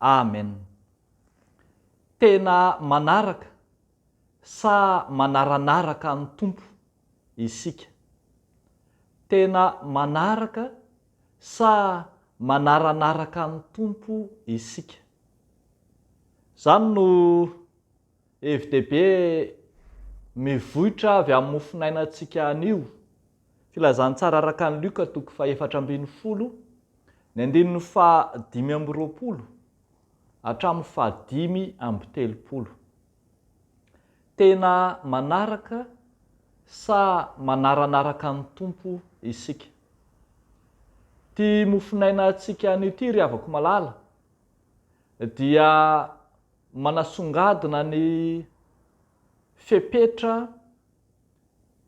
Amen. Tena manaraka sa manaranaraka an'i Tompo isika? Tena manaraka sa manaranaraka an'i Tompo isika? Zany no hevi-dehibe mivoitra avy amin'ny mofonainantsika anio. Filazantsara araka an'i Luka toko fahefatra ambin'ny folo, ny andininy faha dimy amby roapolo hatramin'ny faha dimy amby telopolo. Tena manaraka sa manaranaraka ny Tompo isika? Ity mofonaina antsika anio ity, ry havako malala, dia manasongadina ny fepetra,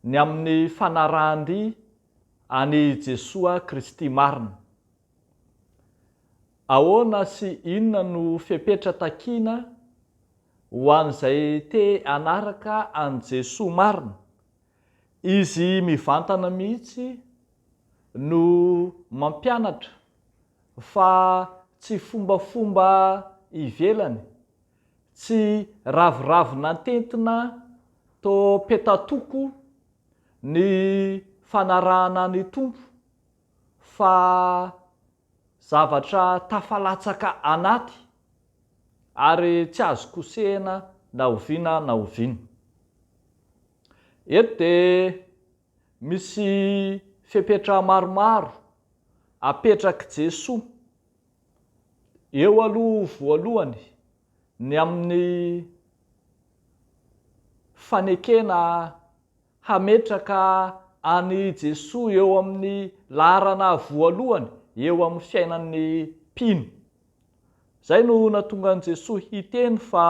ny amin'ny fanarahan-dia an'i Jesoa Kristy marina. Ahoana sy inona no fepetra takiana ho an'izay te hanaraka an'i Jesoa marina? Izy mivantana mihitsy no mampianatra fa tsy fombafomba ivelany Tsy ravoravo nantentina to petatoko ny fanarahana ny Tompo fa zavatra tafalatsaka anaty ary tsy azo kosehina na oviana na oviana. Eto dia misy fepetra maromaro apetrak'i Jesoa. Eo aloha voalohany ny amin'ny fanekena hametraka an'i Jesoa eo amin'ny laharana voalohany eo amin'ny fiainan'ny mpino. Izay no nahatonga an'i Jesoa hiteny fa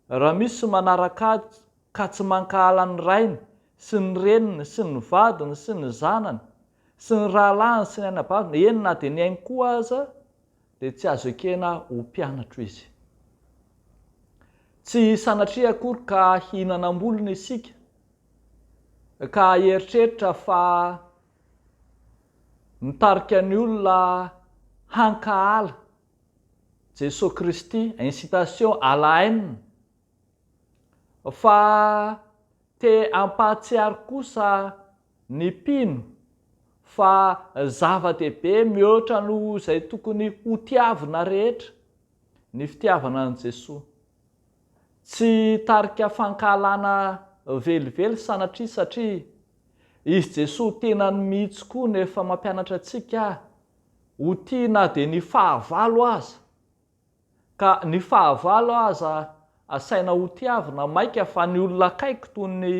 Raha misy manarak'ady ka tsy mankahala ny rainy sy ny reniny sy ny vadiny sy ny zanany sy ny rahalahiny sy ny anabaviny, eny na dia ny ainy koa aza, dia tsy azo ekena ho mpianatro izy. Tsy sanatria akory ka hihinanam-bolony isika ka hieritreritra fa mitarika ny olona hankahala Jesosy Kristy, incitation à la haine, fa te hampahatsiaro kosa ny mpino fa zava-dehibe mihoatra noho izay tokony hotiavina rehetra ny fitiavana an'i Jesosy. Tsy tarika fankahalana velively sanatria satria izy Jesosy tenany mihitsy koa no efa mampianatra antsika ho tia na dia ny fahavalo aza, ka ny fahavalo aza asaina hotiavina maika fa ny olona akaiky toy ny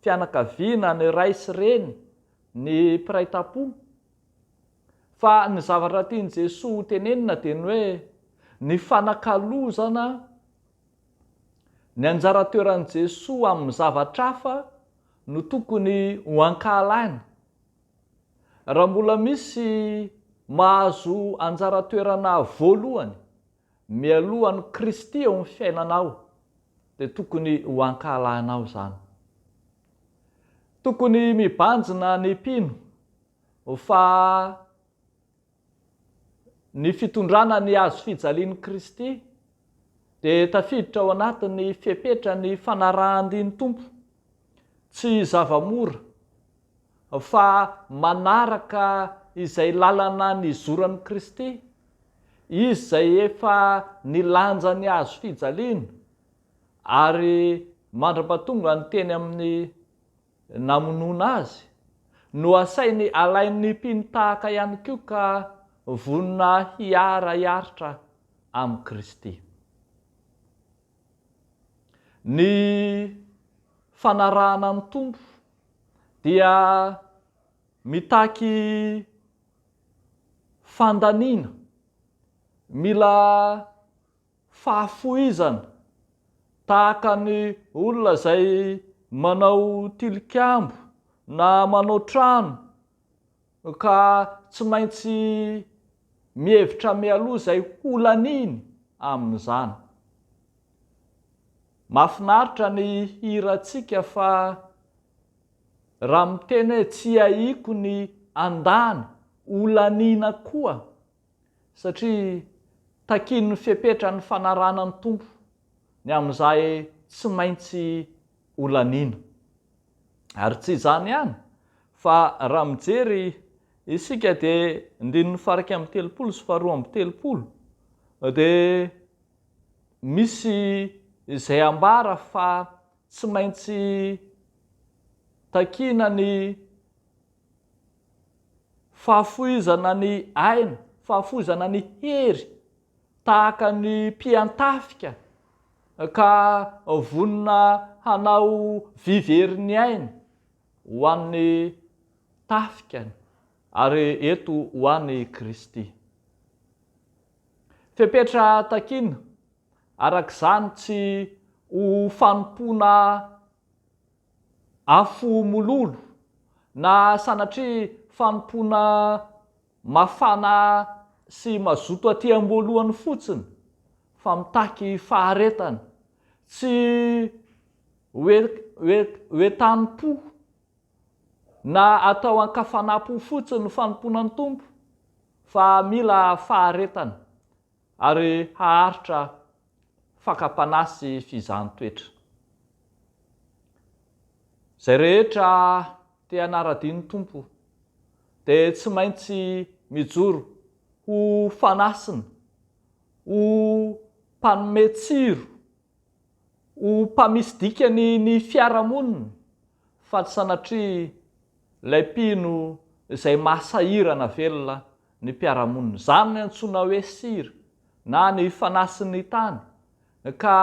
fianakaviana, ny ray sy reny, ny mpiray tampo. Fa ny zavatra tian'i Jesoa ho tenenina dia ny hoe ny fanakalozana ny anjara toeran'i Jesoa amin'ny zavatra hafa no tokony ho ankahalany. Raha mbola misy mahazo anjara toerana voalohany mialoha an'i Kristy eo amin'ny fiainanao dia tokony ho ankahalahinao izany. Tokony mibanjina ny mpino fa ny fitondrana ny hazo fijalian'i Kristy dia tafiditra ao anatin'ny fepetra ny fanarahan-din'ny Tompo. Tsy zava-mora fa manaraka izay lalana nizoran'i Kristy, Izy izay efa nilanja ny hazo fijaliana ary mandra-pahatonga ny teny amin'ny namonoana azy, no asainy alain'ny mpino tahaka ihany koa ka vonona hiara-hiaritra amin'i Kristy. Ny fanarahana ny Tompo dia mitaky fandaniana, mila. Fahafoizana, tahaka ny olona izay manao tilikambo na manao trano ka tsy maintsy mihevitra mialoha izay ho laniny amin'izany. Mahafinaritra ny hirantsika fa raha miteny hoe tsy ahiako ny andany ho laniana koa satria takian'ny fepetra ny fanarahana ny Tompo ny amin'izay tsy maintsy holaniana. Ary tsy izany ihany fa raha mijery isika dia ndininy faha iraika amby telopolo sy faharoa amby telopolo dia misy izay ambara fa tsy maintsy takiana ny Fahafoizana ny aina, fahafoizana ny hery, tahaka ny mpiantafika ka vonona hanao vy very ny ainy ho an'ny tafikany, ary eto ho an'i Kristy. Fepetra takiana, araka izany, tsy ho fanompoana Afo mololo, na sanatria fanompoana mafana sy mazoto aty am-boalohany fotsiny fa mitaky faharetana, tsy hoentanim-po na atao an-kafanam-po fotsiny ny fanompoana ny Tompo fa mila faharetana, ary haharitra fakam-panahy sy fizahan-toetra. Izay rehetra te hanara-dia ny Tompo dia tsy maintsy mijoro ho fanasina, ho mpanome tsiro, ho mpamisy dikany ny fiarahamonina fa tsy sanatria ilay mpino izay maha sahirana velona ny mpiara-monina, izany no antsoina hoe sir na ny fanasin'ny tany, ka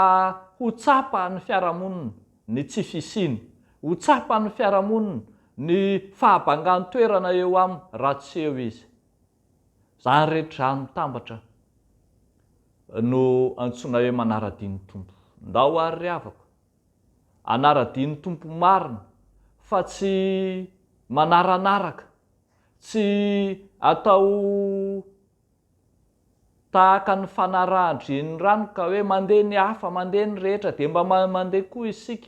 ho tsapan'ny fiarahamonina ny tsy fisiany, ho tsapan'ny fiarahamonina ny fahabangan-toerana eo aminy raha tsy eo izy. Izany rehetra izany mitambatra no antsoina hoe manara-dia ny Tompo. Ndao àry ry havako, hanara-dia ny Tompo marina, fa tsy manaranaraka. Tsy atao tahaka ny fanarahan-drenirano ka hoe mandeha ny hafa, mandeha ny rehetra dia mba mandeha koa isika.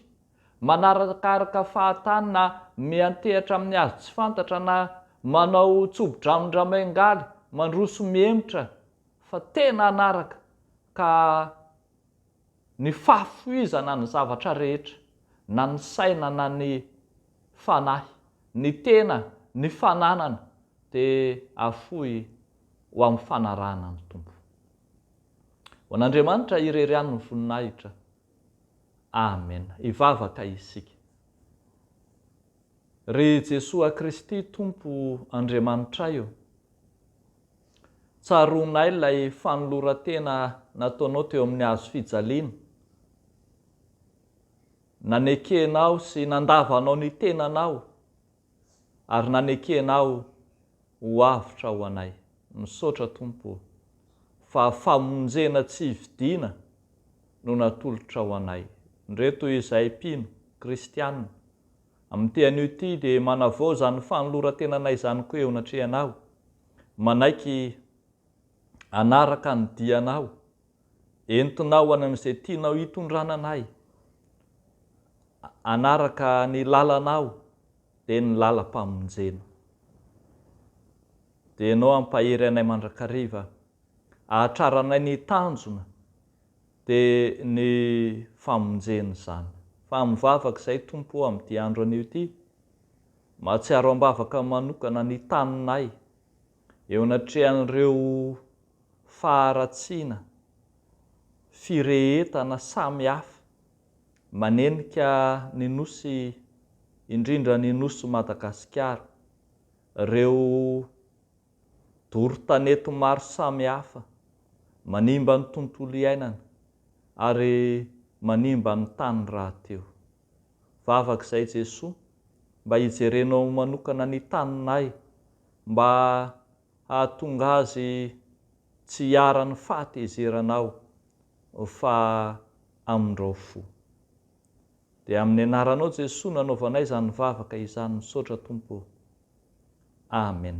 Manarakaraka fahatany na miantehatra amin'ny hazo tsy fantatra na manao tsobo-dramindrameingaly mandroso mihemotra fa tena hanaraka ka Ny fahafoizana ny zavatra rehetra, na ny saina na ny fanahy, ny tena, ny fananana, dia afoy ho amin'ny fanarahana ny Tompo. Ho an'Andriamanitra irery ihany ny voninahitra. Amena. Hivavaka isika. Ry Jesoa Kristy Tompo Andriamanitray ô! Tsaroanay ilay fanoloran-tena nataonao teo amin'ny hazo fijaliana. Nanekenao sy nandavanao ny tenanao ary nanekenao ho avotra ho anay. Misaotra, Tompo ô, fa famonjena tsy hividiana no natolotrao anay. Ndrey toy izay mpino, kristiana, amin'ity anio ity dia manavaoza ny fanoloran-tenanay izany koa eo anatrehanao, manaiky hanaraka ny dianao, entinao any amin'izay tianao hitondrana anay, hanaraka ny lalanao, dia ny lalam-pamonjena. Dia ianao hampahery anay mandrakariva, hahatraranay ny tanjona, dia ny famonjena izany. Fa mivavaka izahay Tompo ô, amin'ity andro anio ity. Mahatsiaro am-bavaka manokana ny taninay eo anatrehan'ireo faharatsiana firehetana samy hafa manenika ny Nosy indrindra ny Nosy Madagasikara, ireo doro tanety maro samy hafa manimba ny tontolo iainana ary manimba ny tany rahateo. Vavaka izay Jesoa mba hijerenao manokana ny taninay mba hahatonga azy tsy hiharan'ny fahatezeranao fa amindrao fo. Dia amin'ny anaranao Jesoa no anaovanay izany vavaka izany misaotra Tompo o. Amen.